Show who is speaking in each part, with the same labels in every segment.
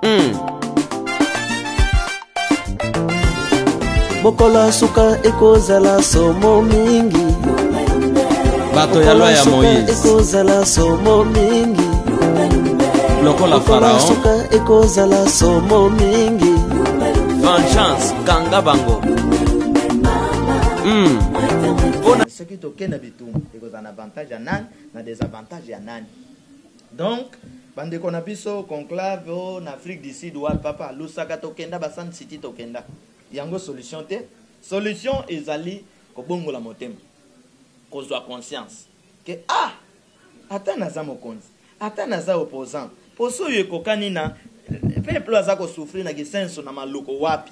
Speaker 1: mm. mokolo ya suka ekozala somo mingi
Speaker 2: bato ya loi ya moïse ekozala somo
Speaker 1: mingi
Speaker 2: lokola farao suka ekozala
Speaker 1: somo mingi vengeance
Speaker 2: kanga bango mm.
Speaker 3: soki tokenda bitumbu ekozala na avantage ya nani na desavantage ya nani Donc ba ndeko na biso conclave oh na Afrique du Sud wapi papa Lusaka tokenda ba Sun City tokenda yango solution te solution ezali kobongola motema kozua conscience que ah ata naza mokonzi ata naza opposant poso oyo ekokani na peuple aza ko souffrir na kisenso na maluku wapi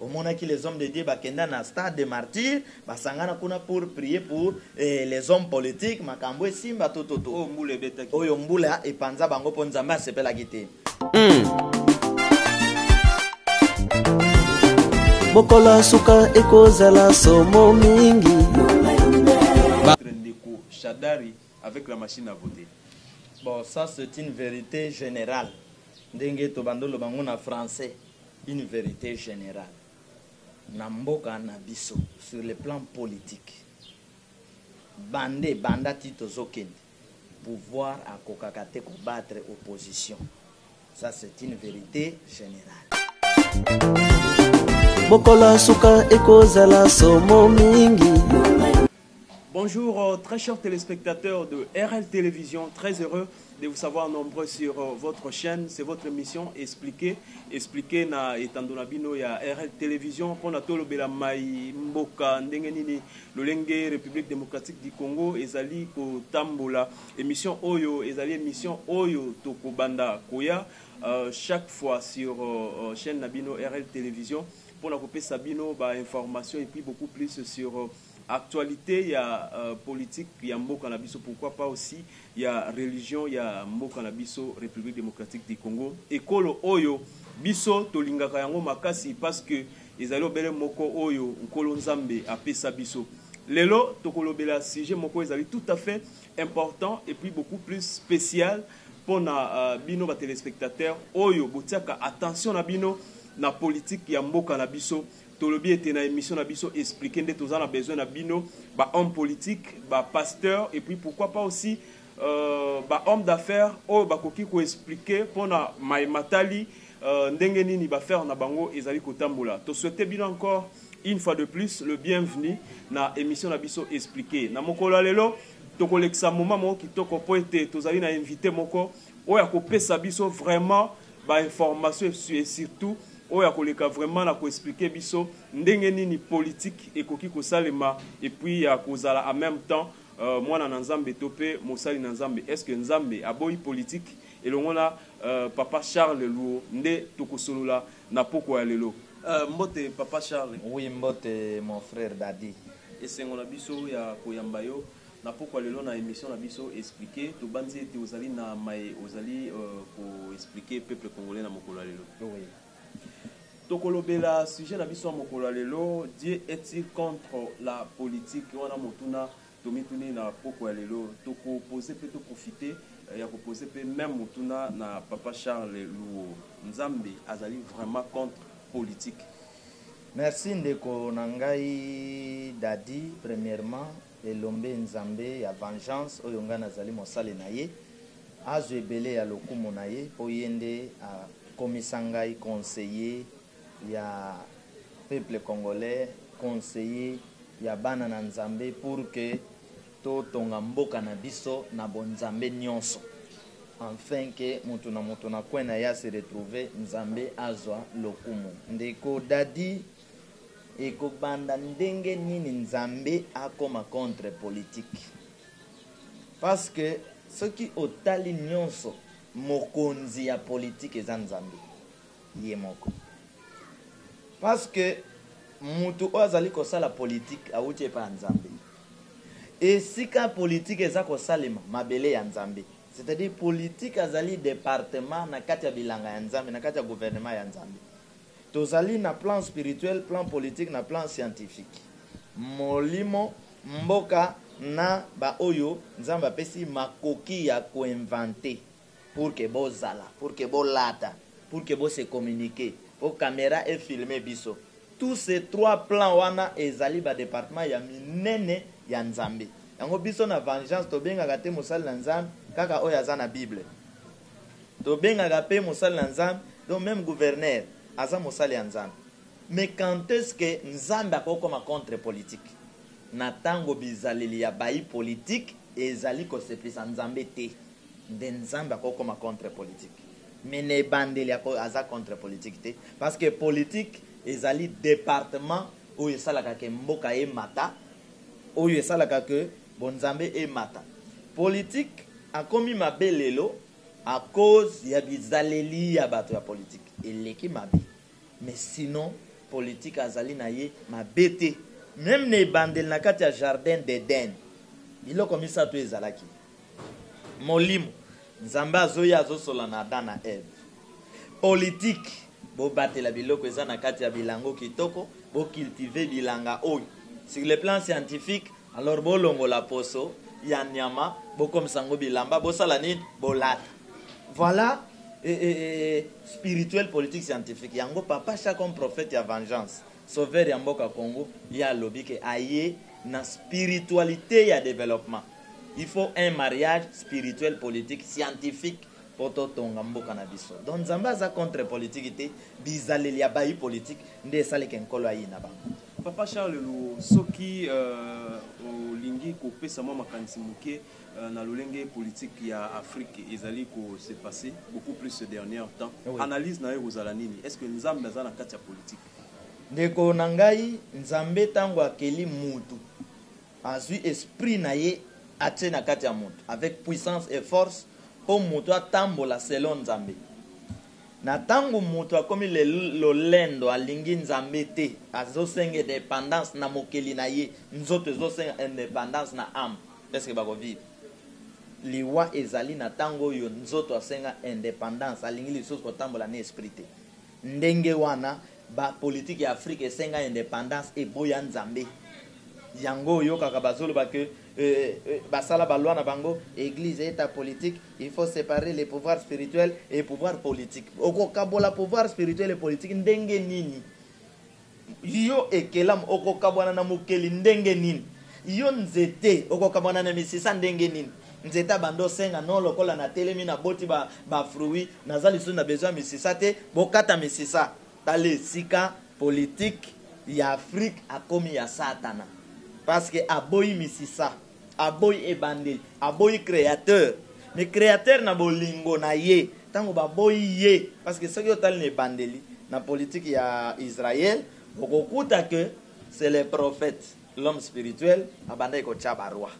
Speaker 3: Omonaki les hommes de Dieu ba kenda na stade de martyrs ba sangana kuna pour prier pour les hommes politiques makambu esimba to to to oyo mbula ebetaki oyo
Speaker 2: mbula epanza
Speaker 3: bango po nzambe asepelaki te.
Speaker 1: Mokolo ya suka ekozala somo mingi. Votre
Speaker 4: ndeko Shadari avec la machine à voter. Bon ça
Speaker 3: c'est une verite generale ndenge tobandi oloba yango na français. Une verite generale na mboka na biso sur le plan politique banda ebanda ti tozo kende pouvoir akokaka te ko battre opposition ça c'est une verite generale.
Speaker 1: Mokolo ya suka ekozala somo mingi. Bonjour
Speaker 4: très chers telespectateurs de RL television très heureux de vous savoir nombreux sur votre chaine c'est votre emission explique explique na etando na bino ya RL television pona tolobela mai mboka ndenge nini lolenge Republique democratique du Congo ezali kotambola emission oyo ezali emission oyo tokobanda koya euh, chaque fois sur euh, chaîne na bino RL television pona kopesa bino ba information et puis beaucoup plus sur actualites ya politique ya mboka na biso pourquoi pas aussi ya religion ya mboka na biso Republique Democratique du Congo ekolo oyo biso tolingaka yango makasi parce que ezali obele moko oyo Nkolo Nzambe apesa biso. Lelo tokolobela sujet moko ezali tout à fait important et puis beaucoup plus special pona bino ba telespectateurs oyo botiaka attention na bino na politique ya mboka na biso Tolobi ete na emission na biso expliquer nde toza na besoin na bino ba hommes politiques, ba pasteurs et puis pourquoi pas aussi ba hommes d'affaires oyo bakoki ko expliquer pona maye matali ndenge nini ba affaires na bango ezali kotambola. To souhaiter bino encore une fois de plus le bienvenu na emission na biso expliquer. Na mokolo ya lelo tokolekisa moment moko kitoko mpo ete tozali na invite moko. Oyo akopesa biso vraiment ba information et surtout oyo akoleka vraiment na ko expliquer biso ndenge nini politique ekoki kosalema et puis ya kozala en meme temps mwana na Nzambe to pe mosali na Nzambe est ce que Nzambe aboyi politique? Elongo na papa Charles Luo nde tokosolola na pokwa ya lelo. Mbote papa Charles. Oui mbote
Speaker 3: mon frère Dady. Esengo na
Speaker 4: biso ya koyamba yo. Na pokua lelo na emission na biso explique tobanzi ete ozali na maye ozali ko explique peuple congolais na mokolo ya lelo.
Speaker 3: Toko
Speaker 4: lobela sujet na biso ya mokolo ya lelo Dieu est-il contre la politique? Wana motuna tomituni na pokua ya lelo. Toko poser mpe to profiter ya ko poser mpe meme motuna na papa Charles Luo. Nzambe azali vraiment contre politique? Merci
Speaker 3: ndeko na ngai Dady, premièrement, Elombe Nzambe ya vengeance oyo ngai nazali mosali na ye azwa ebele ya lokumu na ye mpo ye nde akomisa ngai conseiller ya peuple congolais, conseiller ya bana na Nzambe pour que totonga mboka na biso na bonzambe nionso enfin que mutu na mutu na coin na ye a se retrouver Nzambe azwa lokumu ndeko Dady. Ekobanda ndenge nini nzambe akoma contre politique? Parce que soki otali nionso mokonzi ya politique eza nzambe ye moko. Parce que mutu oyo azali kosala politique awuti epa ya nzambe. Esika politique eza kosalema mabele ya nzambe. C'est à dire politique azali departement na kati ya bilanga ya nzambe na kati ya gouvernement ya nzambe. Tozali na plan spirituel, plan politique na plan scientifique. Molimo, mboka na ba oyo Nzambe apesi makoki ya ko inventer pour que bozala, pour que bolata, pour que bo se communiquer, po camera e filmer biso. Tous ces trois plans wana ezali ba departements ya minene ya Nzambe. Yango biso na Vengeance tobengaka te mosali na Nzambe kaka oyo aza na Bible. Tobengaka pe mosali na nzambe donc meme gouverneur aza mosali ya nzambe mais quand est ce que nzambe akoki koma contre politique? Na tango bizaleli ya bayi politique ezali kosepelisa nzambe te nde nzambe akoki koma contre politique mais na ebandeli aza contre politique te parce que politique ezali departement oyo esalaka que mboka emata oyo esalaka que Bonzambe emata. Politique akomi mabe lelo a cause ya bizaleli ya bato ya politique eleki mabe mais sinon politique azali na ye mabe te. Meme na ebandeli na kati ya jardin d'Eden biloko misato ezalaki, molimo, Nzambe azo ya azo solola na Adam na Eve, politique bo batela biloko eza na kati ya bilango kitoko, bo cultiver bilanga oyo sur le plan scientifique Alors bolongola poso ya nyama bokomisa yango bilamba bosala nini bolata voila eh eh eh spirituel politique scientifique yango papa sha comme prophète ya vengeance sauveur ya mboka Congo ye alobi ke aye na spiritualite ya developpement il faut un mariage spirituel politique scientifique po totonga mboka na biso donc nzambe aza contre politique te bizaleli ya bayi politique nde esali ke nkolo ayina bango. Papa Charles Luo,
Speaker 4: soki olingi kopesa mwa makanisi moke na lolenge politique ya Afrique ezali ko se passer beaucoup plus ce dernier temps, analyse na yo ekozala nini? Est-ce que Nzambe aza na kati ya politique? Ndeko na
Speaker 3: ngai, Nzambe tango akeli mutu, azui esprit na ye atie na kati ya mutu avec puissance et force po mutu atambola selon Nzambe. Na tango mutu akomi le lolendo alingi nzambe te azo senga edependance na mokeli na ye nzoto ezo senga independance na ame est ce que bako vivre? Liwa ezali na tango oyo nzoto asenga independance alingi lisusu ko tambola na esprit te ndenge wana ba politique ya afrique esenga independance eboya nzambe yango oyokaka bazo loba que Euh euh basala ba loi na bango eglise eta politique il faut separer les pouvoirs spirituel et pouvoir politique okokabola pouvoir spirituel et politique ndenge nini yo ekelamu okokabwana na mokeli ndenge nini yo nzete okokabwana na misisa ndenge nini nzete abanda osenga no lokola natelemi naboti bafruit ba naza lisusu na besoin ya misisa te bokata misisa Tala esika politique ya Afrique akomi ya satana parce que aboyi misisa, aboyi ebandeli, aboyi createur mais createur na bolingo na ye tango baboyi ye parce que soki otali na ebandeli na politique ya Israël okokuta que c'est le prophète l'homme spirituel abandaki kotia ba roi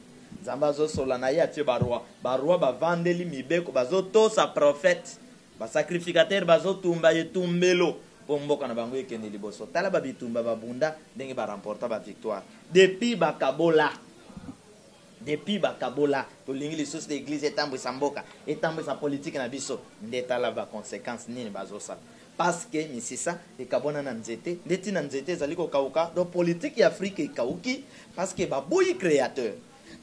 Speaker 3: Nzambe azo solola na ye atie ba roi, ba roi bavandeli mibeko bazo tosa prophète Ba sacrificateurs bazo tumba etumbelo po mboka na bango ekende liboso. Tala ba bitumba ba bunda ndenge ba remporta ba victoires. Depuis ba kabola. Depuis ba kabola tolingi lisusu te eglise etambuisa mboka, etambuisa politique na biso. Nde tala ba consequences nini bazo sala. Parce que misisa ekabwana na nzete nde tina nzete ezali ko kauka. Donc politique ya Afrique ekauki parce que baboyi createur.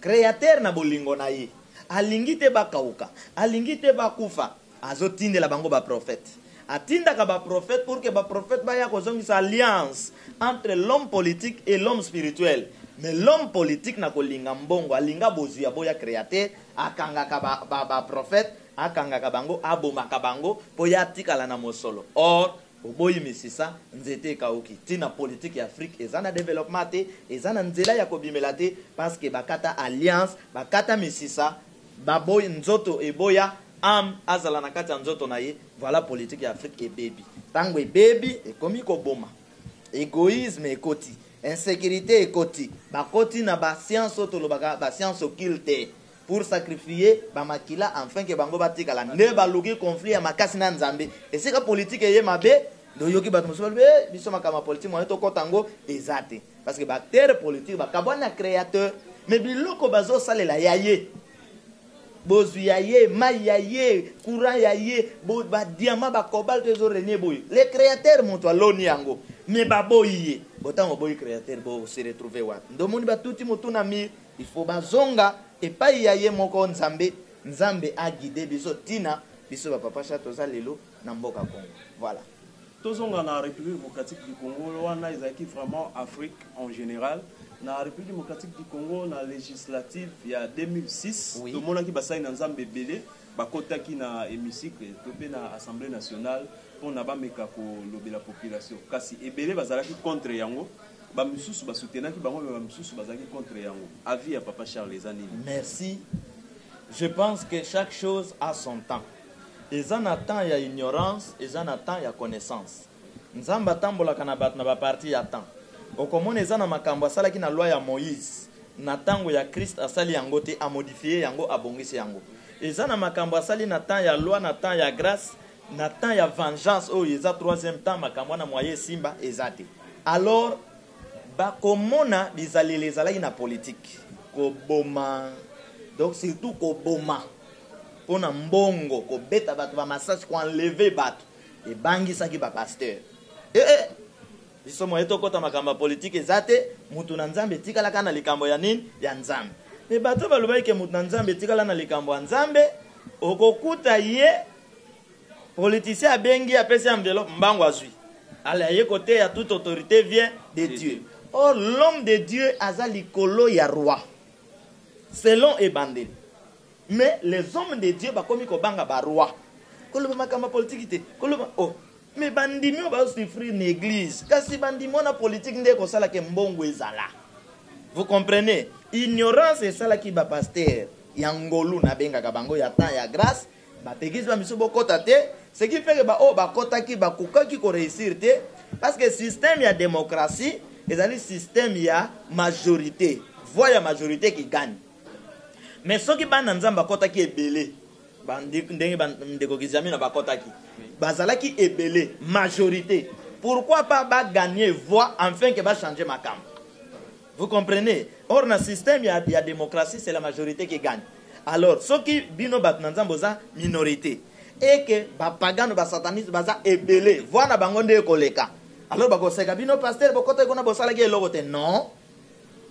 Speaker 3: Createur na bolingo na ye alingi te bakawuka, alingi te bakufa, azo tindela bango ba prophètes. Atindaka ba prophètes pour que ba prophètes baya kozongisa alliance entre l'homme politique et l'homme spirituel. Mais l'homme politique na kolinga mbongo, alinga bozwi aboya Createur, akangaka ba prophètes, akangaka bango, abomaka bango po ye atikala na mosolo. Or, Boboyi misisa, nzete ekawuki. Tina politique ya Afrique eza na developpement te, eza na nzela ya kobimela te parce que bakata alliance, bakata misisa, baboyi, nzoto eboya, ame azala na kati ya nzoto na ye, voila politique ya Afrique ebebi. Tango ebebi, ekomi koboma. Egoisme ekoti, insecurite ekoti, bakoti na ba sciences oyo tolobaka ba sciences occultes. pour sacrifier ba makila enfin que bango batikala nde baluki conflit ya makasi na nzambe esika politique eye mabe nde oyoki batu mosusu balobi eh biso makambo ya politique moyen tokota yango eza te parce que ba acteurs politique bakabwani na createur mais biloko bazosalela ya ye bozwi ya ye mai ya ye courant ya ye ba diamant ba cobalt ezo renie boye le createur moto aloni yango mais baboyi ye botango oboyi createur bo se retrouver wapi nde omoni batuti motu na mire Il faut bazonga epayi ya ye moko Nzambe, Nzambe a guider biso tina biso ba papa cha toza lelo na mboka Congo. Voilà. Tozonga na
Speaker 4: Republique Democratique du Congo, wana ezalaki vraiment Afrique en general. Na Republique Democratique du Congo, na legislatives ya 2006, Oui. tomonaki basali
Speaker 3: na Nzambe
Speaker 4: ebele bakotaki na hemicycle to mpe na Assemblee nationale mpo na bameka kolobela population, kasi ebele bazalaki contre yango. Ba misusu ba soutenaki bango mais ba misusu bazalaki contre yango avis ya papa Charles eza nini? Merci
Speaker 3: je pense que chaque chose a son temps eza na temps ya ignorance eza na temps ya connaissance nzambe atambolaka na batu na ba partie ya temps okomona eza na makambu asalaki na loi ya moise na tango ya christ asali yango te a modifier yango abongisi yango eza na makambu asali na temps ya loi na temps ya grace Na temps ya vengeance oyo eza troisième temps makambo wana moyen esimba eza te alors bakomona bizaleli ezalaki na politique koboma donc surtout koboma pona mbongo kobeta batu ba masasi ko enlever batu ebangisaki ba pasteur eeh biso moyen tokota makambo ya politique eza te mutu na nzambe etikala kaka na likambo ya nini ya nzambe mais bato balobaki ke mutu na nzambe etikala na likambo ya nzambe okokuta ye Politicien abengi apesi enveloppe mbangu azui. Ale aye koteya toute autorite vient de Dieu. Or l'homme de Dieu aza likolo ya roi selon ebandeli mais les hommes de Dieu bakomi kobanga ba roi koloba makambo ya politiki te koloba oh mais bandimi oyo bazo souffrir na eglise kasi bandimi wana politique nde ekosala ke mbongo ezala vous comprenez ignorance esalaki ba pasteur ya ngolu nabengaka bango ya temps ya grace Ba pegues ba misu bokota te, ce qui fait que ba oyo bakotaki bakokaki ko reussir te parce que système ya democratie ezali système ya majorite, voix ya majorite qui gagne. Mais soki bana Nzambe bakotaki ebele, ba ndenge ba ndeko Kizamina bakotaki, bazalaki ebele, majorite, pourquoi pas ba gagner voix enfin que ba changer makambo? Vous comprenez? Or na système ya ya democratie c'est la majorite qui gagne. Alors soki bino batu na Nzambe boza minorite et que ba pagano ba sataniste baza ebele, voix na bango nde ekoleka. Alors bako seka bino pasteur bokotaki kuna bosalaki eloko te. Non.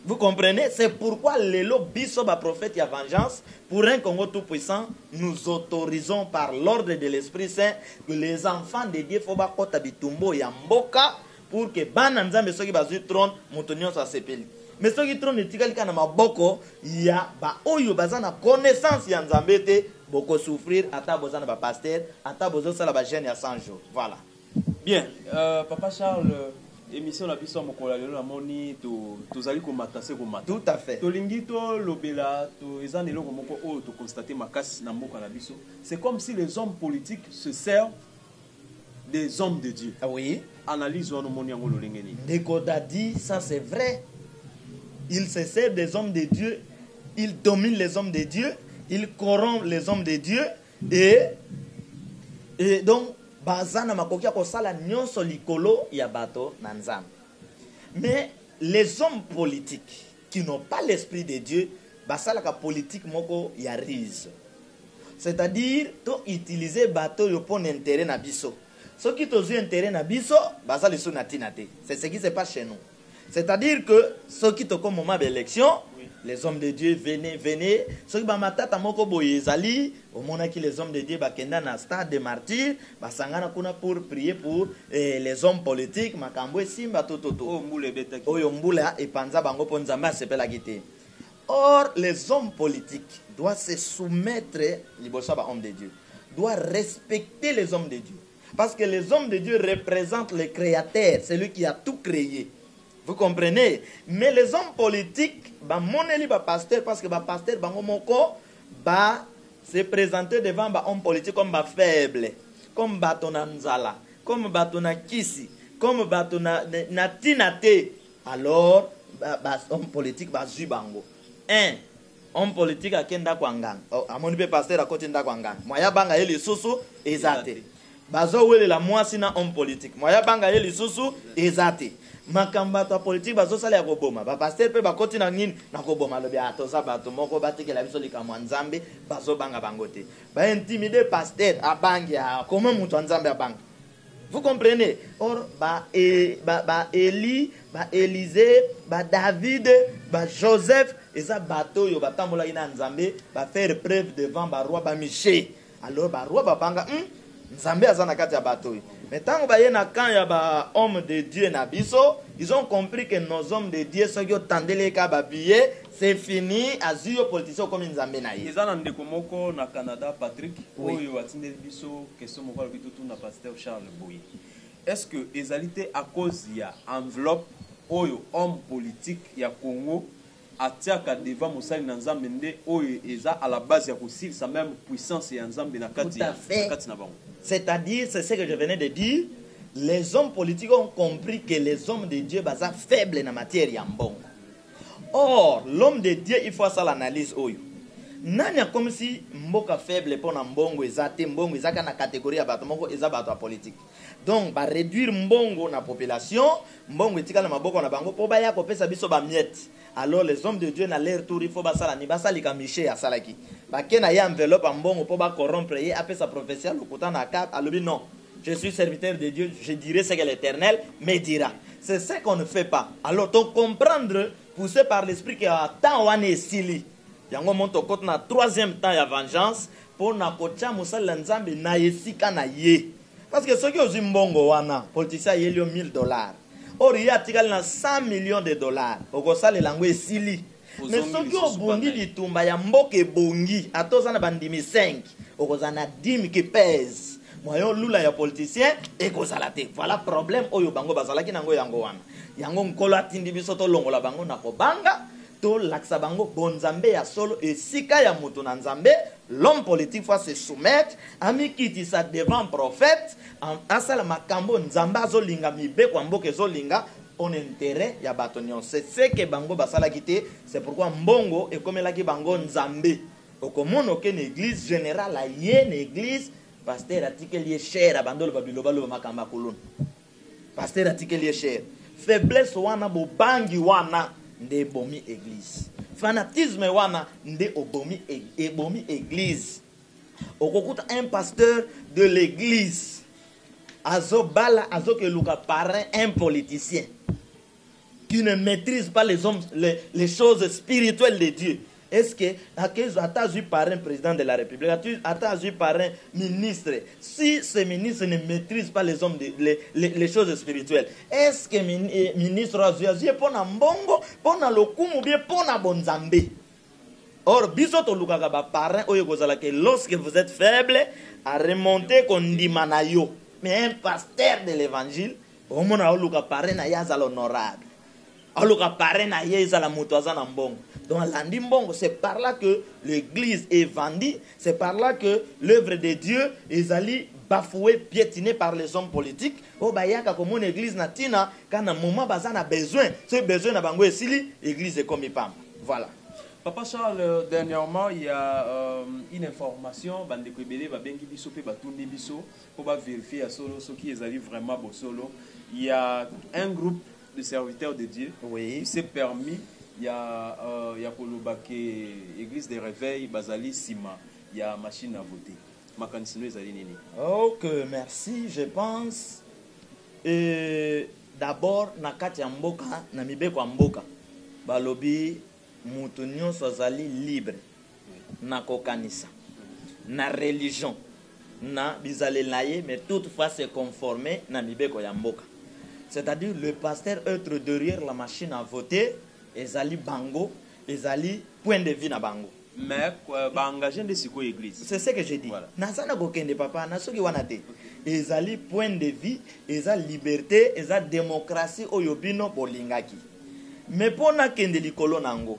Speaker 3: Vous comprenez? C'est pourquoi lelo biso ba prophètes ya vengeance pour un Congo tout puissant, nous autorisons par l'ordre de l'esprit saint que les enfants de Dieu faut bakota bitumba oyo ya mboka pour que bana nzambe soki bazui trone moto nionso asepeli mais soki trone etikali kaka na maboko ya ba oyo baza na connaissance ya nzambe te boko souffrir ata boza na ba pasteur ata bozo sala ba jeune ya 100 jours voilà Bien,
Speaker 4: euh, papa Charles, euh, emission na biso ya mokolo ya lelo namoni to, tozali komata se komata. Tout à fait. Tolingi
Speaker 3: tolobela
Speaker 4: to eza na eloko moko oyo tokonstate makasi na mboka na biso. C'est comme si les hommes politiques se servent des hommes de Dieu. Oui. Analyse
Speaker 3: wana omoni yango
Speaker 4: lolenge nini? Ndeko Daddy,
Speaker 3: ça c'est vrai. Il se sert des hommes de Dieu, il domine les hommes de Dieu, il corrompt les hommes de Dieu et et donc baza na makoki ya kosala nyonso likolo ya bato na Nzambe. Mais les hommes politiques qui n'ont pas l'esprit de Dieu basalaka politique moko ya ruse c'est à dire to utiliser bato oyo pona interet na biso soki tozui interet na biso baza lisusu na tina te c'est ce qui se passe chez nous c'est à dire que soki toko moment ba election les hommes de Dieu venez venez soki ba matata moko boye ezali Omonaki les hommes de Dieu ba kenda na stade de martyrs ba sangana kuna pour prier pour les hommes politiques makambu esimba to to to oyo
Speaker 4: mbula epanza
Speaker 3: bango po nzambe asepelaki te or les hommes politiques doit se soumettre liboso ya ba hommes de Dieu doit respecter les hommes de Dieu parce que les hommes de Dieu represente le createur celui qui a tout cree vous comprenez mais les hommes politiques ba moneli ba pasteur parce que ba pasteur bango moko Ba se presenter devant ba hommes politiques comme ba faibles, comme bato na nzala, comme bato na kisi, comme bato na tina te, alors ba hommes politiques bazui bango. Un homme politique ake ndako ya nganga, amoni pe pasteur akoti ndako ya nganga, moyen abanga ye lisusu eza te. Bazo welela muasi na homme politique moyen abanga ye lisusu eza te. Makambo batu ya politique bazo sala ya ko boma ba pasteur pe ba koti na nini? Na ko boma alobi ah toza batu moko ba tikela biso likambo ya nzambe bazo banga bango te. Ba intimide pasteur abangi ah comment mutu ya nzambe abanga? Vous comprenez? Or ba ba Elie, ba Elise, ba David, ba Joseph eza batu oyo ba tambolaki na nzambe ba faire preuve devant ba rois ba Miche. Alors ba roi ba banga hum nzambe aza na kati ya bato oyo mais tango baye na camp ya ba homme de Dieu na biso ils ont compris que nos hommes de Dieu soki otandeli ye ka ba billet c'est fini azui yo politicien okomi nzambe na ye. Eza na ndeko moko na
Speaker 4: Canada Patrick Oui. oyo atindeli
Speaker 3: biso
Speaker 4: question moko alobi totuna pasteur Charles boye est ce que ezali te à cause ya enveloppe oyo homme politique ya Congo Atiaka devant mosali na Nzambe nde oyo eza à la base ya kosilisa meme puissance ya Nzambe na kati ya na kati na bango. C'est à dire
Speaker 3: c'est ce que je venais de dire les hommes politiques ont compris que les hommes de Dieu baza faible na matière ya mbongo or l'homme de Dieu il faut asala analyse oyo nani akomisi mboka faible pona mbongo eza te mbongo ezaka na categorie ya bato moko eza bato ya politique Donc ba reduire mbongo na population, mbongo etikala na maboko na bango po baya kopesa biso ba miettes. Alors les hommes de Dieu na leur tour il faut basala nini? Basalika Michee asalaki. Bake na ye enveloppe ya mbongo po ba corrompre ye apesa prophetie ya lokuta na cap alobi non je suis serviteur de Dieu je dirai ce que l'Eternel me dira. C'est ce qu'on ne fait pas. Alors to comprendre pousse par l'esprit que temps wana esili. Yango omoni tokoti na troisième temps ya vengeance pona kotia mosali ya nzambe na esika na ye parce que soki ozui mbongo wana politicien ayeli yo 1000 dollars or ye atikali na 100 millions de dollars okosalela yango esili mais soki obundi bitumba ya mboka ebongi ata oza na bandimi 5 okozala na dime qui pèse moyen olula ya politicien ekozala te voilà problème oyo bango bazalaki na yango yango wana yango nkolo atindi biso tolongola bango na kobanga Tolakisa bango bonzambe ya solo esika ya moto na Nzambe, l'homme politique faut se soumettre, amikitisa devant prophète, asala makambo Nzambe azo linga, mibeko ya mboka ezo linga pona interet ya bato nionso. C'est ce que bango basalaki te, c'est pourquoi mbongo ekomelaki bango Nzambe. Okomona oke na eglise, general aye na eglise, pasteur atikeli ye chaire abandi oloba bilobaloba makambo ya kuluna. Pasteur atikeli ye chaire. Faiblesse wana bobangi wana nde ebomi eglise. Fanatisme wana nde obomi ebomi eglise. Okokuta un pasteur de l'eglise azo bala azo ke luka parrain un politicien. tu ne maitrise pas les hommes les, les choses spirituelles de Dieu est-ce que akezo ata azui parrain président de la république ata azui parrain ministre si ce ministre ne maîtrise pas les hommes de, les, les, les choses spirituelles est-ce que min, eh, ministre azui azui pona mbongo pona lokumu bien pona bonzambe or biso tolukaka ba parrain oyo ekozala que lorsque vous êtes faible à remonter kondima na yo mais un pasteur de l'évangile Omona aoluka parrain naye azala honorable aoluka parrain naye ezala mutu aza na mbongo donc alandi mbongo c'est par là que l'eglise est vendue c'est par là que l'oeuvre de Dieu ezali bafoue pietine par les hommes politiques oyo bayaka komona eglise na tina ka na moment baza na besoin soki besoin na bango esili eglise ekomi pamba voilà. Papa Charles,
Speaker 4: dernièrement il ya une information bandeko ebele babengi biso pe batuni biso po ba verifier ya solo soki ezali vraiment bosolo ya un groupe de serviteurs de Dieu oui. qui s'est permis ya euh, ya koloba que eglise de reveil bazali sima ya machine à voter makanisi no ezali nini ok
Speaker 3: merci je pense euh, d'abord na kati ya mboka na mibeko ya mboka balobi mutu nyonso azali libre na kokanisa na religion na bizalela ye mais toute fois se conformer na mibeko ya mboka c'est à dire le pasteur eutre derrière la machine à voter ezali bango ezali point de vue na bango mais euh, ba
Speaker 4: engage nde siko eglise c'est ce que j'ai dit voilà.
Speaker 3: naza na kokende
Speaker 4: papa
Speaker 3: na soki wana te ezali point de vue eza liberté eza démocratie oyo bino bolingaki mais pona kende likolo na yango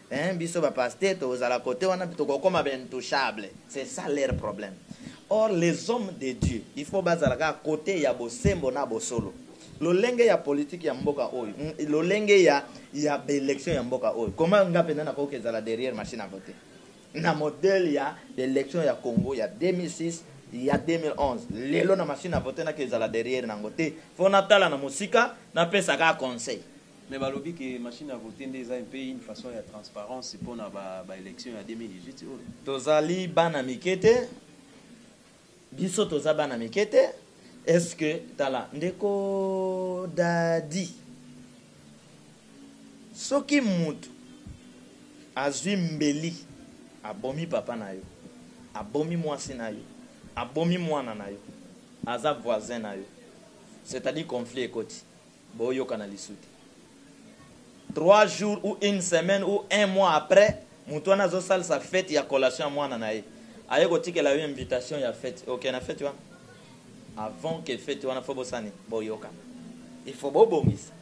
Speaker 3: Eeh biso ba pasteur tozala cote wana pe tokokoma ba intouchable c'est ça leur problème or les hommes de Dieu il faut bazala kaka cote ya bosembo na bosolo lolenge ya politique ya mboka oyo lolenge ya ya ba election ya mboka oyo comment nga penza nakoki kezala derrière machine à voter na modèle ya ba election ya Congo ya 2006 ya 2011 lelo na machine à voter nakezala derrière nango te faut natala na mosika napesa kaka conseil. Mais balobi que
Speaker 4: machine à voter nde eza un peu une façon ya transparence pona ba elections ya 2018 oyo. Tozali
Speaker 3: bana mike te biso toza bana mike te est ce que tala ndeko dadi soki mutu azwi mbeli abomi papa na yo abomi mwasi na yo abomi mwana na yo aza voisin na yo c'est-à-dire conflit ekoti Bo yokana lisu te. Trois jours ou une semaine ou un mois après mutu wana azo salisa fete ya collation ya mwana na ye aye ko tikela yo invitation ya fete oke na fete wana? Avant que fete wana faut bosala nini? Bo yokana. Il faut bo bongisa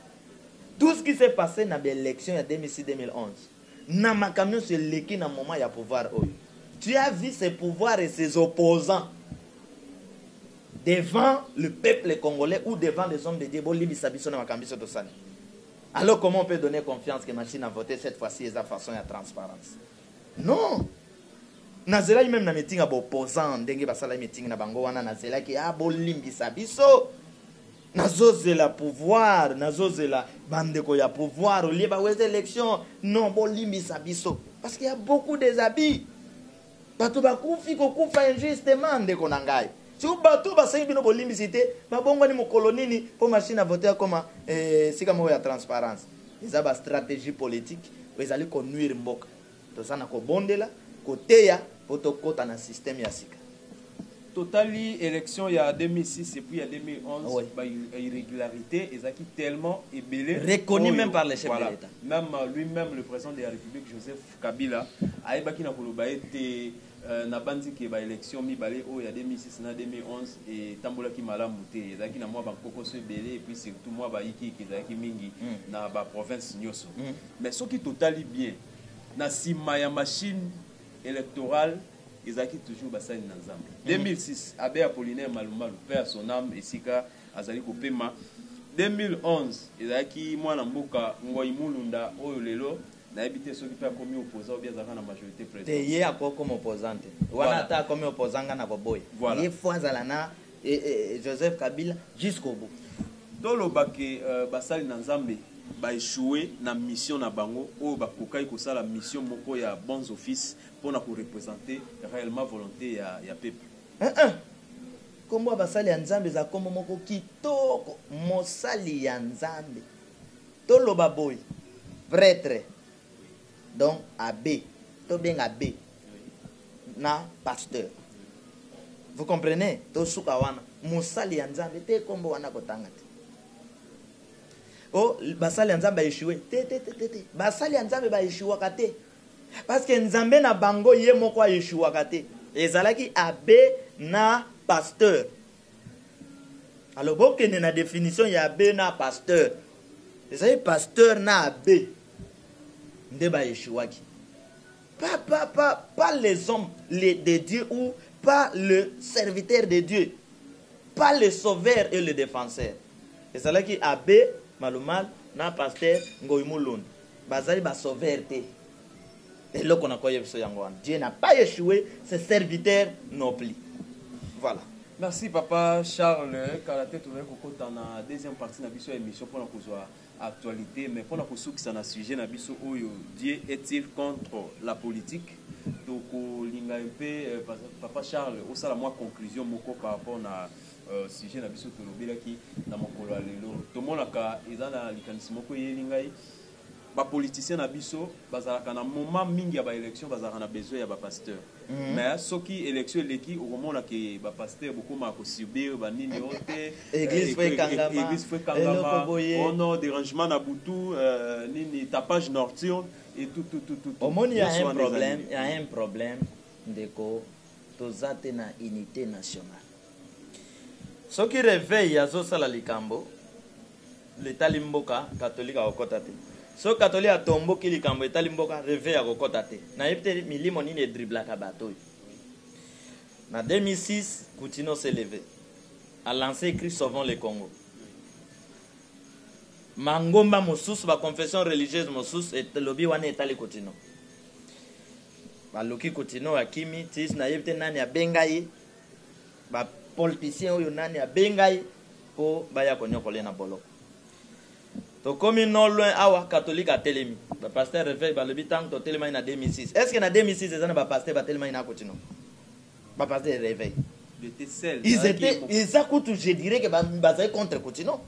Speaker 3: tout ce qui s'est passe na ba elections ya 2006-2011. Na makambo nionso eleki na moment ya pouvoir oyo tu as vu ce pouvoir et ses opposants devant le peuple congolais ou devant les hommes de Dieu bolimbisa biso na makambo biso tosali alors comment on peut donner confiance que machine à voter cette fois ci eza façon ya transparence non nazelaki meme na meeting ya ba opposants ndenge basalaki meeting na bango wana nazelaki ah bolimbisa biso Nazozela pouvoir nazozela ba ndeko ya pouvoir olie ba weze election non bolimbisa biso parce que ya beaucoup des abus bato bakufi kokufa injustement ndeko na ngai siko bato basengi bino bolimbisi te babongwani mokolo nini po machine a vote akoma eh, sika moko ya transparence eza ba strategie politique ezali konuire mboka Toza na kobondela, koteya po tokota na système ya sika. Totali
Speaker 4: election ya 2006 et puis ya 2011 oui. ba
Speaker 3: irregularite
Speaker 4: ezaki tellement ebele reconnu oh, même par le
Speaker 3: chef voilà. de l'État. Même euh, lui-même
Speaker 4: le président de la République Joseph Kabila ayebaki na koloba ete Nabanzi que ba elections mibale oyo ya 2006 na 2011 etambolaki malamu te. Ezalaki na mua ba nkokoso ebele et puis surtout mua ba yikiyiki ezalaki mingi na ba provinces nioso. Mais soki totali bien, na sima ya machine electorale, ezalaki toujours basali na Nzambe. 2006, Abbe Apollinaire Malu Malu, paix à son ame, esika azali kopema. 2011, ezalaki muana mboka Ngoy Mulunda oyo lelo Nayebi te soki pe akomi opposant ou bien azalaka na majorite Te president. ye akoki koma opposant
Speaker 3: te. Wana Voilà. ata akomi opposant nga nakoboya Voilà. ye faut azala na eh, eh, Joseph Kabila jusqu'au bout. Toloba que
Speaker 4: basali na Nzambe ba echoue na mission na bango oyo bakokaki kosala mission moko ya bons offices mpo na ko representer reellement volonte ya ya peuple. Eh eh!
Speaker 3: Kombo ya basali ya Nzambe ezala kombo moko kitoko, mosali ya Nzambe. To loba boye pretre donc abbe to benga abbe na pasteur vous comprenez to suka wana mosali ya nzambe te kombo wana ko tanga te o oh, basali ya nzambe ba echouer te te te te basali ya nzambe ba echouaka te parce que nzambe na bango ye moko a echouaka te ezalaki abbe na pasteur Alors bokende na definition ya abbe na pasteur. Ezali pasteur na abbe nde ba echouaki. Pas, pas, pas, pas les hommes les, de Dieu ou pas le serviteur de Dieu. Pas le sauveur et le défenseur. Ezalaki abbe Malumal na pasteur Ngoy Mulund. Bazali ba sauveur te. Eloko nako yebiso yango wana Dieu n'a pas echoue ses serviteurs non plus voilà. Merci papa
Speaker 4: Charles kala te tozali kokota na deuxième partie na biso ya emission pona kozua actualite mais pona kosukisa na sujet na biso oyo Dieu est-il contre la politique tokolinga un peu papa Charles osala mua conclusion moko par rapport na sujet na biso tolobelaki na mokolo ya lelo tomonaka eza na likanisi moko eyeli ngai Ba politiciens na biso bazalaka na moment mingi ya ba elections bazalaka na besoin ya ba pasteurs mais soki elections eleki okomona que ba pasteurs bokomaka ko subir ba nini oh te Eglise faut ekangama,
Speaker 3: eglise faut
Speaker 4: ekangama eloko boye. oh non derangement na butu euh nini tapage norturne et tout tout tout tout Omoni ya Nyonso un
Speaker 3: wana eza problème, nini? ya un problème ndeko toza te na unite nationale. Soki reveil azosala likambo letali mboka catholique akokota te soki catholique atomboki likambo etali mboka reveil akokota te nayebi te milimo nini edriblaka bato oyo na 2006 kutino se leve a lance ecrit sauvons le congo mangomba mosusu baconfession religieuse mosusu elobi wana etali kutino baluki kutino akimi tis nayebi te nani abenga ye Ba polticien oyo nani abenga ye po baya koniokola ye na boloko? Tokomi no loin awa catholique atelemi ba pasteur reveil balobi tangu totelemaki na 2006 est ce que na 2006 eza na ba pasteur batelemaki na kutino? Ba pasteur ya reveil ils etaient eza kutu je dirais que bazali contre kutino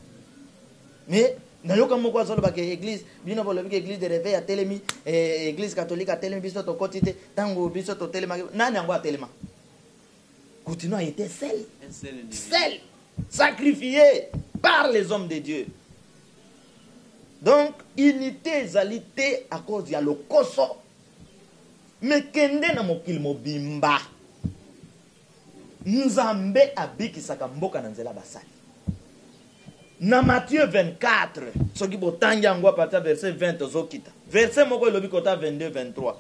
Speaker 3: mais nayoka moko azoloba ke eglise bino bolobi ke eglise de reveil atelemi eh, eglise catholique atelemi biso tokoti te tangu biso totelemaki nani yango atelema Kutino a ete sel, sel sacrifie par les hommes de Dieu. Donc unite ezali te a cause ya lokoso. Mais kende na mokili mobimba. Nzambe abikisaka mboka na nzela basali. Na Matthieu 24, soki botangi yango apartir verset 20 tozokita. Verset moko elobi kota 22, 23.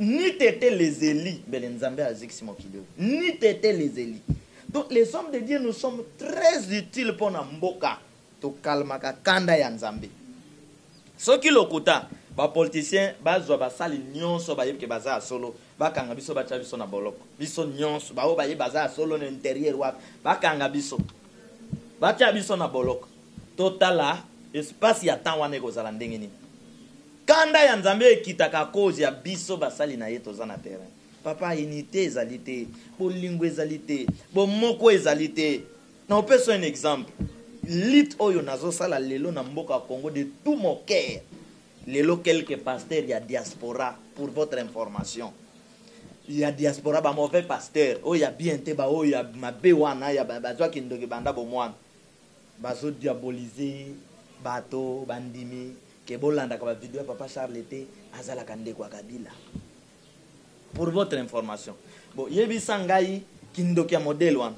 Speaker 3: Nuit ete les elis mbele nzambe azikisi mokili oyo nuit ete les elis donc les hommes de Dieu nous sommes très utile pona mboka to calmaka kanda ya nzambe soki lokuta ba politiciens bazua basali nionso bayebi ke baza ya solo bakanga biso batia biso na boloko biso nionso baoyo bayebi baza ya solo na interieur wapi bakanga biso batia biso na boloko totala espace ya temps wana ekozala ndenge nini Kanda ya nzambe ekitaka akoz ya biso basali naye toza na terrain papa unite ezali te bolingo ezali te bomoko ezali te na opeso un exemple lutte oyo nazo sala lelo na mboka congo de tout mon cœur lelo quelques pasteurs ya diaspora pour votre information ya diaspora ba mauvais pasteurs oyo ya bien te ba oyo ya mabe wana ya bazwa kindoki banda bomwana bazo diaboliser bato bandimi Que bolandaka ba video ya papa Charles te azalaka ndeko ya kabila pour votre information bo yebisa ngai kindoki ya modèle wana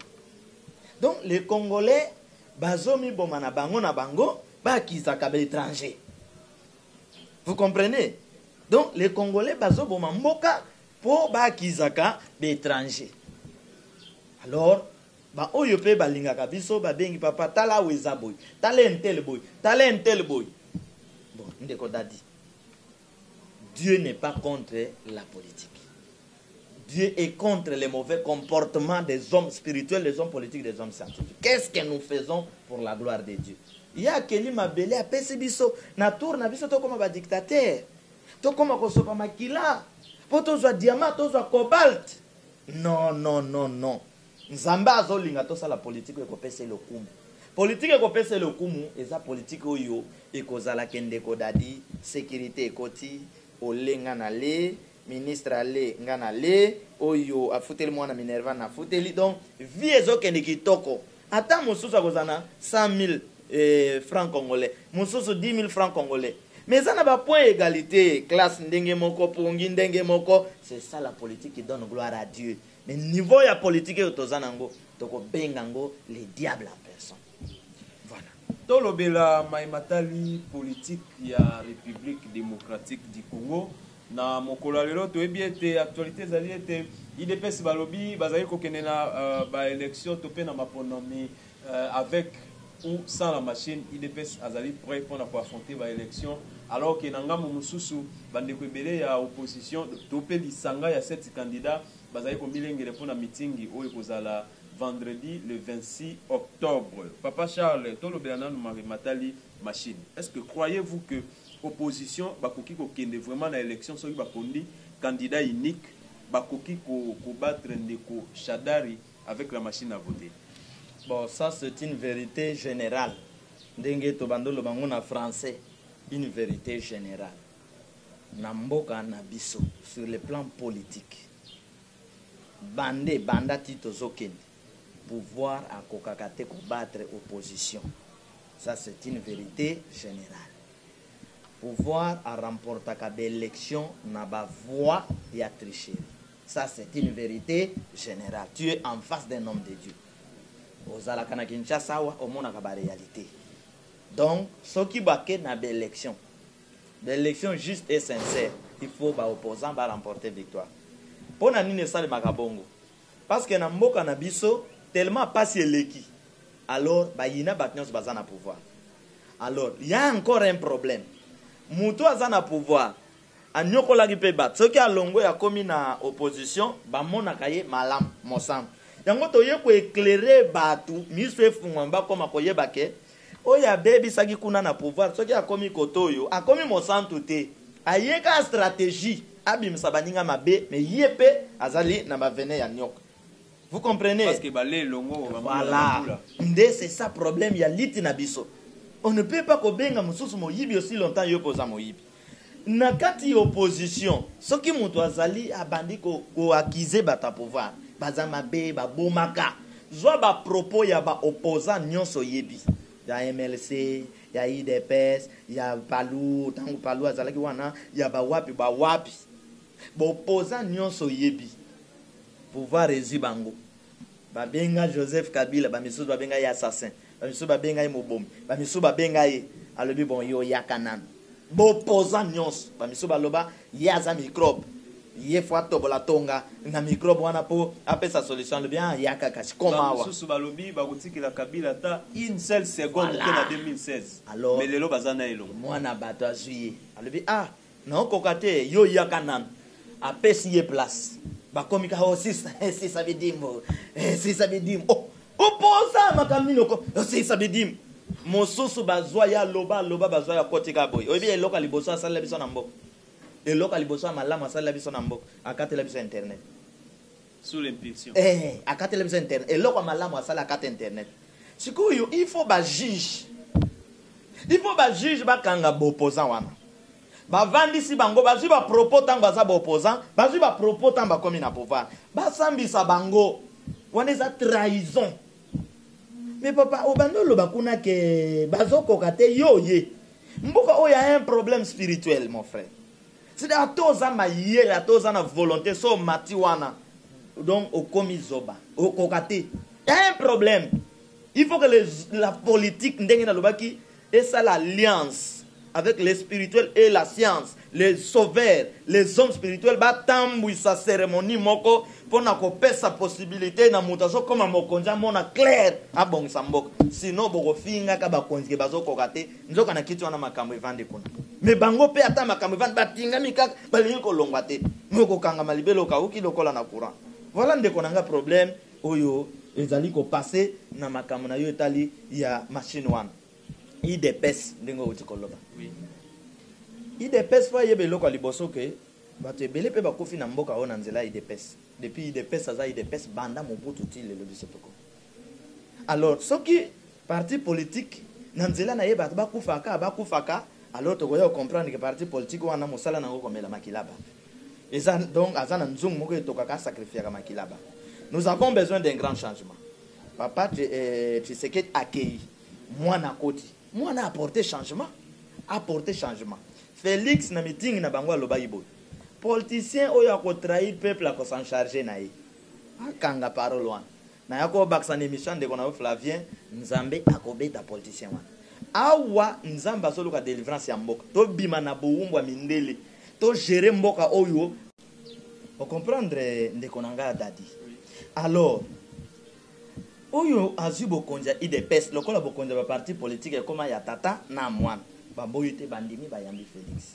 Speaker 3: donc les congolais bazomiboma na bango na bango bakisaka ba étranger vous comprenez donc les congolais bazoboma mboka mpo bakisaka ba étranger alors Ba oyo pe ba lingaka biso ba bengi papa tala awa eza boye tala un tel boye tala un tel boye bon ndeko dady Dieu n'est pas contre la politique Dieu est contre les mauvais comportements des hommes spirituels des hommes politiques des hommes scientifiques qu'est ce que nous faisons pour la gloire de Dieu ye akeli mabele apesi biso na tour na biso tokoma ba dictateur tokoma kosopa makila po tozwa diamant tozwa cobalt non non non non Nzambe azo linga tosala politique oyo ekopesa ye lokumu. Politique ekopesa ye lokumu eza politique oyo ekozala ke ndeko Dady securite ekoti olle nga na le, ministre alle nga na le, oyo afuteli mwana Minerva na futeli donc vie ezo kende kitoko. Ata mosusu akozala na 100.000 francs congolais mosusu 10.000 francs congolais mais eza na ba points ya egalite, classe ndenge moko, pongi ndenge moko, c'est ça la politique qui donne gloire à Dieu. Mais niveau ya politique oyo toza na ngo toko benga ngo le diable en personne. Voilà. Tolobela
Speaker 4: maye matali politique ya Republique democratique du Congo. Na mokolo ya lelo toyebi ete actualite ezali ete udps balobi bazali kokende na ba elections to mpe na maponami Avec ou sans la machine, udps azali pret pona ko affronter ba elections alors que na ngambo mosusu ba ndeko ebele ya opposition to pe lisanga ya sept candidats bazali komilengele pona meeting oyo ekozala vendredi le 26 octobre. Papa Charles, tolobela nanu mabe matali machine. Est-ce que croyez vous que opposition bakoki kokende vraiment na elections soki bapondi candidat unique? Bakoki ko battre ndeko Shadary? avec la machine à voter. Bon ça
Speaker 3: c'est une verite generale ndenge tobandi oloba ngo na français une verite generale na mboka na biso sur le plan politique bande banda ti tozokende pouvoir akokaka te ko battre opposition ça c'est une verite generale pouvoir a remportaka ba elections na ba voix ya tricherie Ça c'est une verite generale tu es en face d'un homme de Dieu ozalaka na Kinshasa awa omonaka ba realite donc soki ba ke na ba election ba election juste et sincère il faut ba opposant ba remporter victoire pona nini esalemaka bongo parce que na mboka na biso tellement pasi eleki alors ba yina bato nionso baza na pouvoir alors ya encore un problème mutu aza na pouvoir Aniokolaki pe batu. Soki alongwe akomi na opposition bamonaka ye malamu. Mosantu. Yango toye ko eclairer batu misu efungwama bakoma koyeba ke oyo abebisaki kuna na pouvoir soki akomi cote oyo akomi mosantu te. Aye kaka strategie abimisa baninga mabe mais ye pe azali na ba venin ya nioka. Vous comprenez? Parce que bale elongo
Speaker 4: ba mbula na ba mbula. Voilà.
Speaker 3: Nde c'est ça problème ya lutte na biso. On ne peut pas kobenga mosusu moyibi aussi longtemps yo pe oza moyibi. Na kati ya opposition soki mutu azali abandi ko accuse batu ya pouvoir baza mabe ba bomaka zua ba propos ya ba opposants nionso oyebi ya MLC ya udps ya palu tangu palu azalaki wana ya ba wapi ba wapi ba opposants nionso oyebi pouvoir ezui bango. Babenga Joseph Kabila, ba misusu babenga ye assassin, ba misusu babenga ye mobomi, ba misusu babenga ye, alobi bon yo yaka nanu. B'opposants nionso, ba misusu baloba ye aza microbe, ye faut atobola tonga na microbe wana po apesa solution, alobi ah yaka kasi koma awa. Ba misusu balobi bakotikela
Speaker 4: Kabila ata une seule seconde te na 2016, mais lelo baza
Speaker 3: naye elongo.
Speaker 4: Mwana batu azui
Speaker 3: ye, alobi ah Non okoka te yo yaka nanu. Apesi ye place bakomi kaka oh sisa eh sisa bidimu eh sisa bidimu oh oposa makambo nini oko oh sisa bidimu mosusu bazwa ye aloba aloba bazwa ye akoti kaka boye oyebi eloko ya liboso asalela biso na mboka eloko ya liboso ya malamu asalela biso na mboka akatela biso internet Sous
Speaker 4: l'impulsion. Eeh akateli biso
Speaker 3: internet eloko ya malamu asali akata internet sikoyo il faut ba juge il faut ba juge bakanga ba opposant wana bavandisi bango bazwi ba propos tango baza ba opposant bazwi ba propos tango bakomi na pouvoir basambisa bango wana eza trahison mais papa obanda oloba kuna ke bazokoka te yo oye mboka oyo ya un problème spirituel mon frère C'est dire ata oza mayele ata oza na volonte so omati wana donc okomi zoba okoka te y'a un problème il faut que les, la politique ndenge nalobaki esala alliance avec les spirituels et la science les sauveurs les hommes spirituels batambwisa cérémonie moko pona kopesa possibilité na moto azokoma mokonzi amona claire abongisa mboka sinon bokofingaka bakonzi ke bazokoka te nzoka na kiti wana makambo evandi kuna me bango mpe ata makambo evandi batingami kaka balingi kolongwa te me okokangama libele okauki lokola na courant voilà ndeko na nga problème oyo ezali kopase na makambo na yo etali ya machine wana idps ndenge outi koloba idps fo ayeba eloko ya liboso ke bato ebele mpe bakufi na mboka oyo na nzela ya idps depuis idps aza idps banda mobutu ti lelo biso toko Alors soki parti politique na nzela naye batu ba kufa ka ba kufa ka alors tokoya ko comprendre que parti politique wana musala nango komela makila ba eza donc aza na nzungu moko etoka ka sacrifiaka makila ba nous avons besoin d'un grand changement papa tshisekedi akeyi mwana akoti mwana a porte changement a porte changement felix na meeting na bango alobaki boye politicien oyo ako trahi peuple ako s'en charger naye Akanga parole wana. Naya ko bakisa na emission ya ndeko na yo Flavien. Nzambe ako beta politicien wana. Awa Nzambe azo luka delivrance ya mboka. To bima na bowumbu ya mindele. To gerer mboka oyo. O comprendre ndeko na nga Dady. Alors, oyo azui bokonzi ya udps lokola bokonzi ya ba partis politiques ekoma ya tata na mwana. Ba boyi te, ba ndimi ba yambi Felix.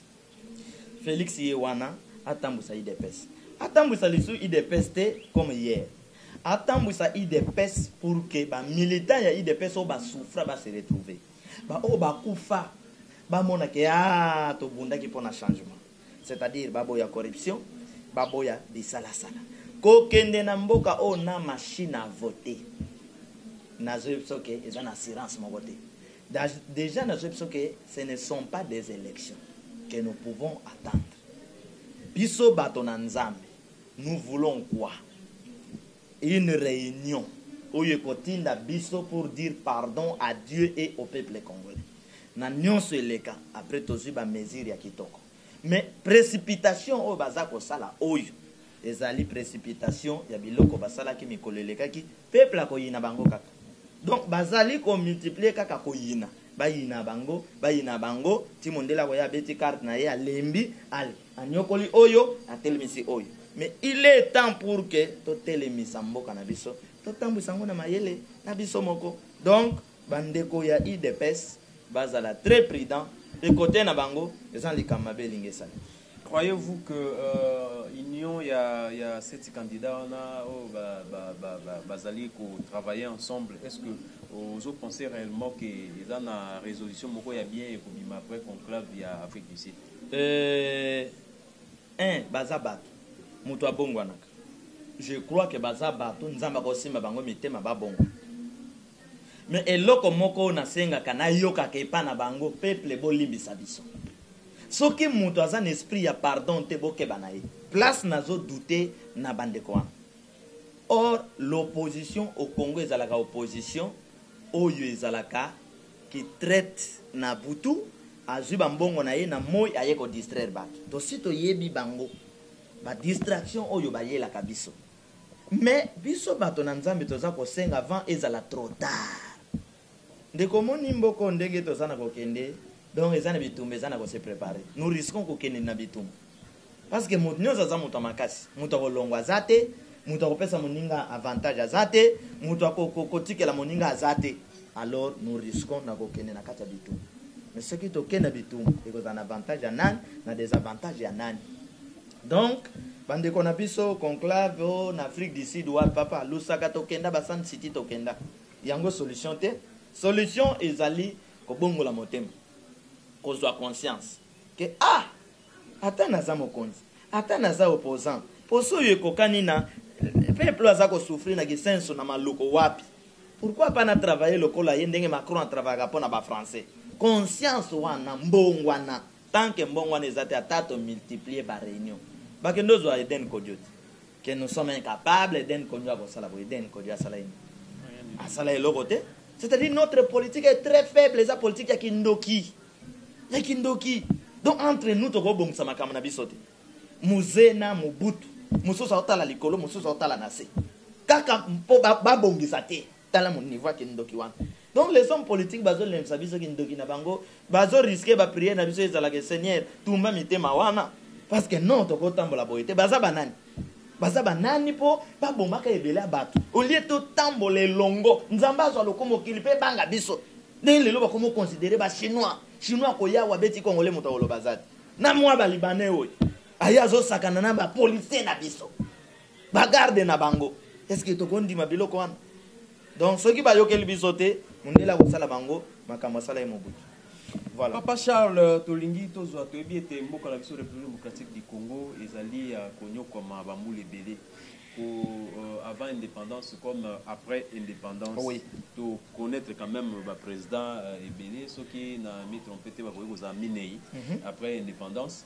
Speaker 3: Felix ye wana atambuisa udps atambuisa lisusu udps te comme hier atambuisa udps pour que ba militants ya udps oyo ba souffra ba se retrouver ba oyo ba kufa ba mona ke aah tobundaki pona changement c'est à dire ba boya corruption ba boya bisala sala ko kende na mboka oyo na machine à voter nazo yebisa yo ke eza na assurance moko te. Dejà nazo yebisa yo que ce ne sont pas des elections que nous pouvons attendre. Biso bato na Nzambe nous voulons quoi? Une reunion oyo ekotinda biso pour dire pardon à Dieu et au peuple congolais. Na nionso eleka après tozui ba mesures ya kitoko. Mais precipitation oyo baza kosala oyo ezali precipitation ya biloko basalaki mikolo elekaki, peuple akoyina bango kaka. Donc bazali ko multiplier kaka koyina, bayina bango, bayina bango, ti mondele akoya abeti carte na ye alembi, anyokoli oyo, atelemisi oyo. Mais il est temps pour que totelemisa mboka na biso, totambwisa yango na mayele na biso moko. Donc ba ndeko ya udps bazala très prudents, de cote na bango eza na likambo mabe elingi esala. Croyez vous que
Speaker 4: union ya ya 7 candidats wana oyo ba ba bazali ko travailler ensemble est ce que ozo penser reellement que eza na resolution moko ya bien ekobima après conclave ya Afrique du Sud? Euh
Speaker 3: un baza batu mutu abongwanaka je crois que baza batu Nzambe akosimba bango mitema ba bongwana mais eloko moko oyo nasengaka nayokaka epa na bango peuple bolimbisa biso Soki mutu aza na esprit ya pardon te bokeba na ye. Place nazo doute na ba ndeko wana. Or l'opposition au Congo ezalaka opposition oyo ezalaka ki traite na butu azui ba mbongo na ye na moyi aye ko distraire batu. Tosi toyebi bango ba distraction oyo bayelaka biso. Mais biso bato na Nzambe toza kosenga avant ezala trop tard. Ndeko omoni mboko ndenge toza na kokende donc eza na bitumba eza na ko se prepare nous risquons kokende na bitumba parce que moto nionso aza moto ya makasi moto ya kolongwa aza te moto ya kopesa moninga avantage aza te moto ya kotikela moninga aza te alors nous risquons na kokende na kati ya bitumba mais soki toke na bitumba ekozala na avantage ya nani na desavantage ya nani donc bandeko na biso conclave o na Afrique du Sud wapi papa Lusaka tokenda ba Sun City tokenda Yango solution te, solution ezali kobongola motema, kozua conscience que ah ata naza mokonzi, ata naza opposant, posa oyo ekokani na peuple aza ko souffrir na kisenso na maluku wapi? Pourquoi pas na travailler lokola ye ndenge Macron a travaillaka pona ba français? Conscience wana mbongwana, tant que mbongwana eza te ata to multiplier ba reunions bakende ozua Eden Kodio te. que nous sommes incapable Eden Kodio akosala boye Eden Kodio asala ye nini asala eloko te c'est à dire notre politique est très faible eza politique ya kindoki ya kindoki donc entre nous tokobongisa makambo na biso te muze na mobutu mosusu aotala likolo mosusu aotala na se kaka mpo babongisa ba te Tala niveau ya kindoki wana. Donc les hommes politiques bazo lembisa biso kindoki na bango, bazo risquer ba prières na biso ezala que seigneur tumba mitema wana parce que non toko tambola boye te. Baza ba nani? Baza ba nani po ba bomaka ebele ya batu au lieu to tambola elongo Nzambe azwa lokumu mokili pe ebanga biso. Ndenge lelo bakomi ko considerer ba chinois, chinois akoya awa abeti congolais mutu akoloba aza te. Na mua ba libanais oyo aye azo sakana na ba policiers na biso. ba garde na bango est ce que tokondima biloko wana donc soki bayokeli biso te mundele akosala bango makambo asala ye mobutu Voilà. Papa Charles,
Speaker 4: tolingi tozwa toyebi ete mboka na biso République démocratique du Congo ezali ya konyokwama bambula ebele ko euh, avant indépendance comme euh, après indépendance oh oui. to
Speaker 3: connaître
Speaker 4: quand même ba président euh, ebele soki na mi trompe te bakoki kozala minei mm -hmm. après indépendance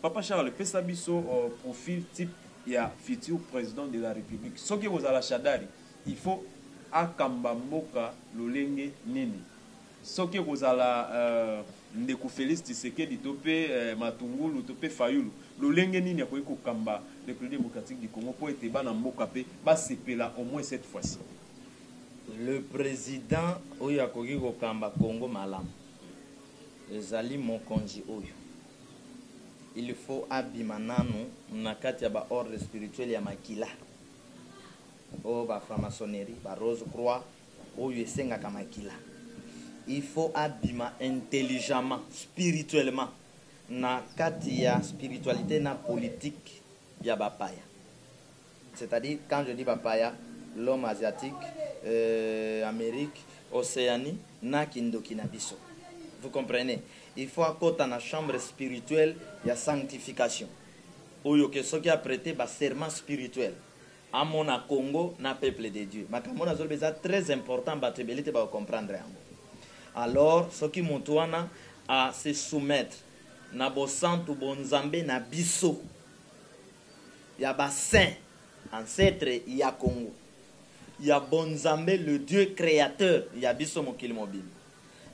Speaker 4: Papa Charles pesa biso profil type ya futur president de la republique soki ekozala shadary il faut akamba mboka lolenge nini soki ekozala ndeko Felix Tshisekedi to pe matungulu to pe fayulu lolenge nini akoki kokamba republique democratique du Congo po ete bana mboka pe basepela au moins cette fois ci.
Speaker 3: Le president oyo akoki kokamba Congo malamu ezali mokonzi oyo. il faut abima nanu na kati ya ba ordre spirituel ya makila oyo ba franc-maçonnerie, ba rose croix oyo esengaka makila il faut abima intelligemment spirituellement na kati ya spiritualite na politique ya ba paya. c'est à dire quand je dis ba paya, l'homme asiatique, euh Amerique, Oceanie na kindoki na biso. Vous comprenez? Il faut akota na chambre spirituelle ya sanctification oyo que soki a preter ba serments spirituels amona Congo na peuple de Dieu. Makambo oyo nazo loba eza très important batu ebele te bako comprendre yango. Alors soki mutu wana a se soumettre na bosantu bo nzambe na biso, ya ba saints ancetres ya Congo, ya Bonzambe le Dieu createur ya biso mokili mobimba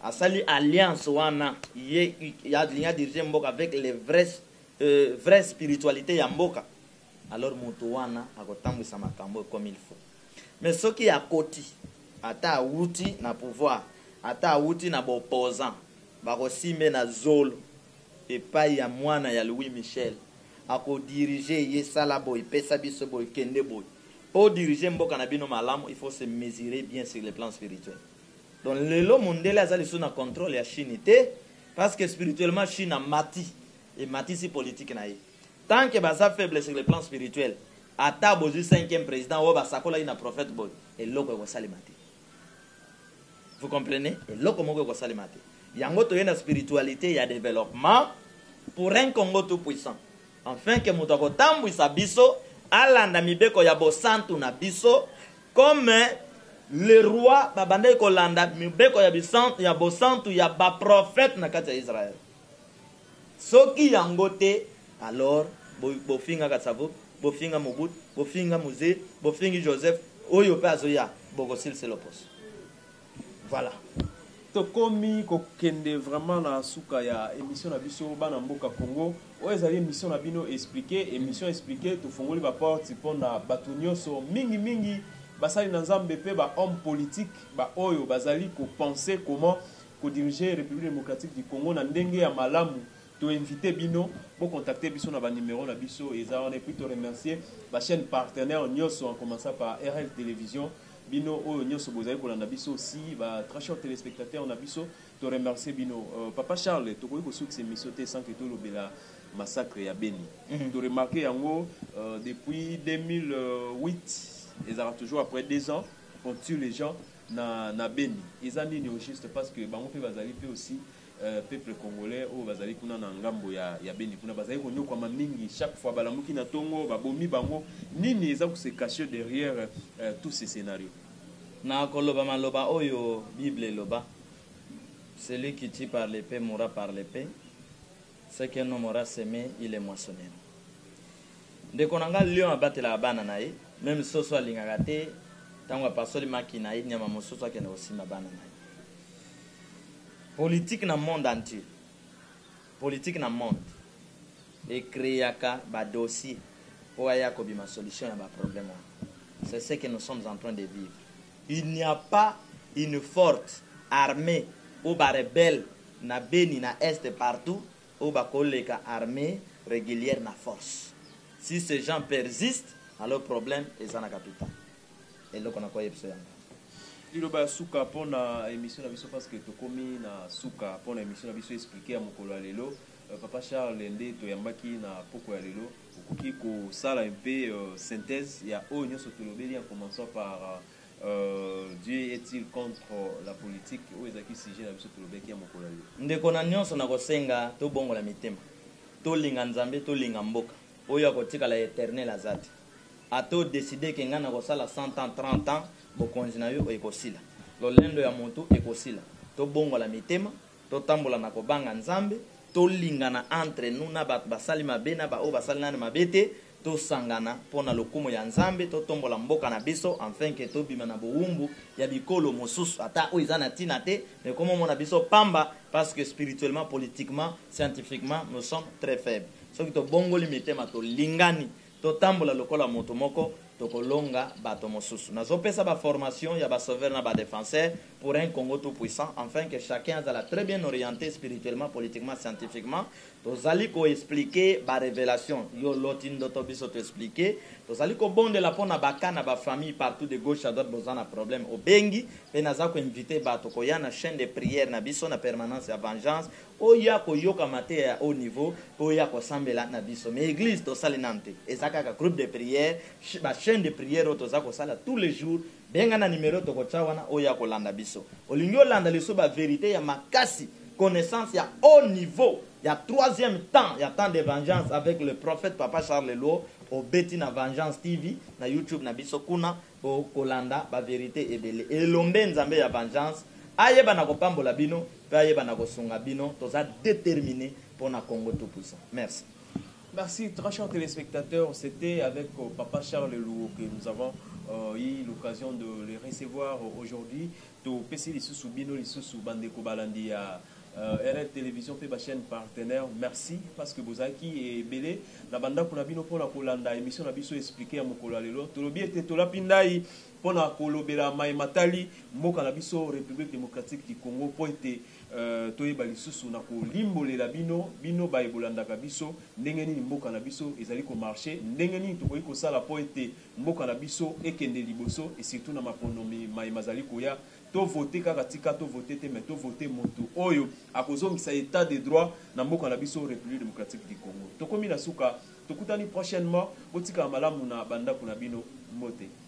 Speaker 3: asali alliance wana ye alingi a diriger mboka avec les vrais vraie spiritualite ya mboka alors mutu wana akotambuisa makambo comme il faut mais soki akoti ata awuti na pouvoir ata awuti na ba opposants bakosimba ye na zolo. epayi ya mwana ya Louis Michel ako dirige ye sala boye pesa biso boye kende boye po dirige mboka na bino malamu il faut se mesurer bien sur le plan spirituel donc lelo mundele aza lisusu na controle ya chine te parce que spirituellement chine amati ematisi politique na ye tant que baza faible sur le plan spirituel ata bozui cinquième president oyo basakolaki na prophète boye eloko ekosalema te. Vous comprenez? Eloko moko ekosalema te. Yango toye na spiritualite ya developpement pour un Congo tout puissant. Enfin que moto akotambwisa biso alanda mibeko ya bosantu na biso comme le roi babandaki kolanda mibeko ya bosantu ya ba prophètes na kati ya Israël. Soki yango te alors bofingaka Tsavo, bofinga Mobut, bofinga Muzee, bofingi Joseph, oyo pe azoya bokosilse loposo. Voilà.
Speaker 4: Tokomi kokende vraiment na suka ya emission na biso bana mboka Congo. Oyo ezali emission na bino explique, emission explique tofongoli ba porte pona batu nionso mingi mingi basali na Nzambe pe ba hommes politiques ba oyo bazali ko penser comment ko diriger Republique Democratique du Congo na ndenge ya malamu, to inviter bino bo contacter biso na ba numeros na biso eza wana et puis to remercier ba chaines partenaires nionso en commençant par RL Television, bino oyo nionso bozali kolanda biso aussi ba très chers telespectateurs na biso to remercier bino. Papa Charles, tokoki kosukisa emission te sans que tolobela massacre ya Beni, to remarquer yango depuis 2008, ezalaka toujours après deux ans, on tue les gens, na na beni eza nini au juste parce que bango pe bazali pe aussi euh, peuple congolais oyo bazali kuna na ngambo ya ya beni kuna bazali konyokwama mingi chaque fois balamuki na tongo babomi bango nini eza ko se cacher derrière euh, tout ce scenario na koloba
Speaker 3: maloba oyo bible eloba celui qui tue par l'epee mourra par l'epee ce qu'un homme aura seme il le moissonnera Ndeko na nga lion abatelaka bana na ye meme soso alingaka te tangu apasoli maki na ye nyama mosusu akende kosimba bana na ye politique na monde entier politique na monde e creaka ba dossier po aya kobima solution ya ba problème wana c'est ce que nous sommes en train de vivre il n'y a pas une forte armee ou ba rebelles na beni na est partout oyo bakoleka armee reguliere na force si ce gens persiste alors problème eza na capital eloko na ko yebiso yango. Liloba ya
Speaker 4: suka pona emission na biso parce que tokomi na suka pona emission na biso explique ya mokolo ya lelo papa Charles nde toyambaki na pokua ya lelo okoki kosala un peu synthese ya oyo nionso tolobeli en commencant par Dieu est-il contre la politique? Oyo ezalaki sujet na biso tolobelaki ya mokolo ya lelo. Ndeko na nionso
Speaker 3: nakosenga tobongola mitema tolinga nzambe tolinga mboka oyo akotikala ya eternel aza te ata o decide ke ngai nakosala 100 ans 30 ans bokonzi na yo ekosila lolendo ya mutu ekosila tobongola mitema totambola na kobanga nzambe tolingana entre nous na batu basali mabe na ba oyo basali nanu mabe te Tosangana mpo na lokumu ya Nzambe, totombola mboka na biso enfin que tobima na bowumbu ya bikolo mosusu ata oyo eza na tina te mais komo mona biso pamba parce que spirituellement, politiquement, scientifiquement nous sommes très faibles. Soki tobongoli mitema tolingani totambola lokola mutu moko tokolonga bato mosusu. Nazopesa ba formations ya ba sauveurs na ba defenseurs pour un Congo tout puissant enfin que chacun azala très bien oriente spirituellement, politiquement, scientifiquement. Tozali ko expliquer ba revelations, yo oloti ndoto biso to expliquer, tozali kobondela mpo na ba cas na ba familles partout de gauche à droite boza na problème obengi mpe naza ko inviter bato koya na chaine de prière na biso na permanence ya vengeance oya koyoka mateya ya haut niveau mpe oya kosambela na biso mais eglise tosali nanu te eza kaka groupe de prière ba chaine de prière oyo toza kosala tous les jours Benga na numero toko tia wana oya ko landa biso. Olingi olanda lisusu ba verite ya makasi, connaissance ya haut niveau ya troisième temps ya temps de vengeance avec le prophète papa Charles Luo obeti na vengeance TV na YouTube na biso kuna oko landa ba verite ebele. Elombe Nzambe ya vengeance ayeba na ko pambola bino pe ayeba na ko sunga bino toza determine pona Congo tout puissant. Merci. Merci très
Speaker 4: cher telespectateur c'etait avec papa Charles Luo que nous avons eu l'occasion de le recevoir aujourd'hui topesi lisusu bino lisusu ba ndeko balandi ya RL television pe ba chaine partenaire merci parce que bozalaki ebele na ba ndaku na bino pona kolanda emission na biso explique ya mokolo ya lelo tolobi ete tolapi ndayi pona kolobela maye matali mboka na biso Republique Democratique du Congo po ete Ee, toyeba lisusu na kolimbolela bino, bino baye bolandaka biso, ndenge nini mboka na biso ezali ko marcher, ndenge nini tokoki kosala mpo ete mboka na biso ekende liboso et surtout na maponomi maye mazali koya. To voter kaka tika to voter te mais to voter mutu oyo akozongisa etat de droit na mboka na biso Republique Democratique du Congo. Tokomi na suka, tokutani prochainement, botikala malamu na ba ndaku na bino. Mbote.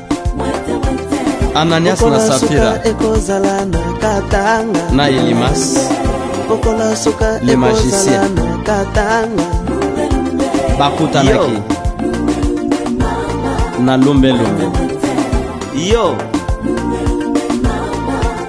Speaker 2: ananias na safira ekozala na
Speaker 1: katanga na elimas
Speaker 2: mokolo
Speaker 1: suka le magicien na
Speaker 2: katanga
Speaker 1: bakutanaki
Speaker 2: na lumbelumbe yo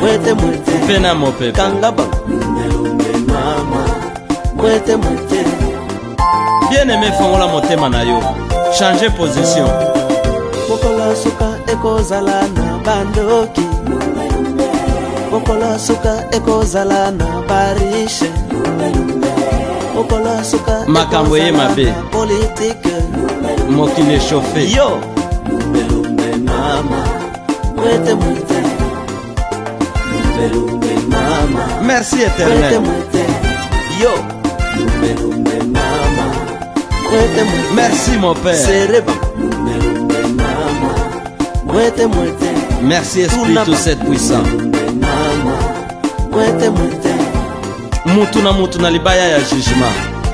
Speaker 1: mwete mwete mpe na mopepe kanga
Speaker 2: bango
Speaker 1: lumbe mama mwete mwete
Speaker 2: bien aime fongola motema na yo change position mokolo
Speaker 1: suka ekozala na bandoki mokolo suka ekozala na barishe mokolo suka makambo eye mabe
Speaker 2: politike
Speaker 1: mokili
Speaker 2: eshofe yo
Speaker 1: Merci éternel. Yo. Merci mon père. Merci Esprit
Speaker 2: tout cette puissant.
Speaker 1: Mutu
Speaker 2: na mutu na libaya ya jugement.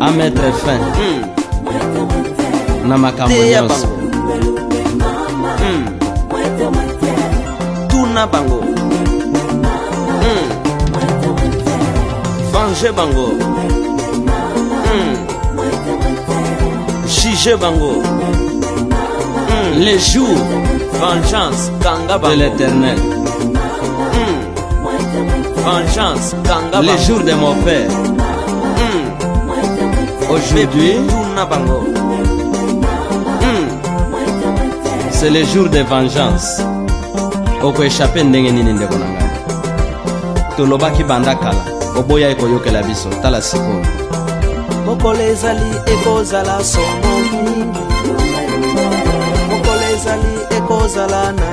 Speaker 2: a mettre fin hmm. na makambo nyonso hmm.
Speaker 1: tuna bango hmm.
Speaker 2: venge bango juge bango les jours vengeance kanga bango de l'éternel Vengeance, Kanga Le jour de mon père. Mm. Aujourd'hui, mm. c'est le jour de vengeance. okoechape ndenge nini ndeko na ngai tolobaki banda kala oboyai koyokela biso tala sikoyo mokolo
Speaker 1: ezali ekozala somo mingi mokolo ezali ekozala na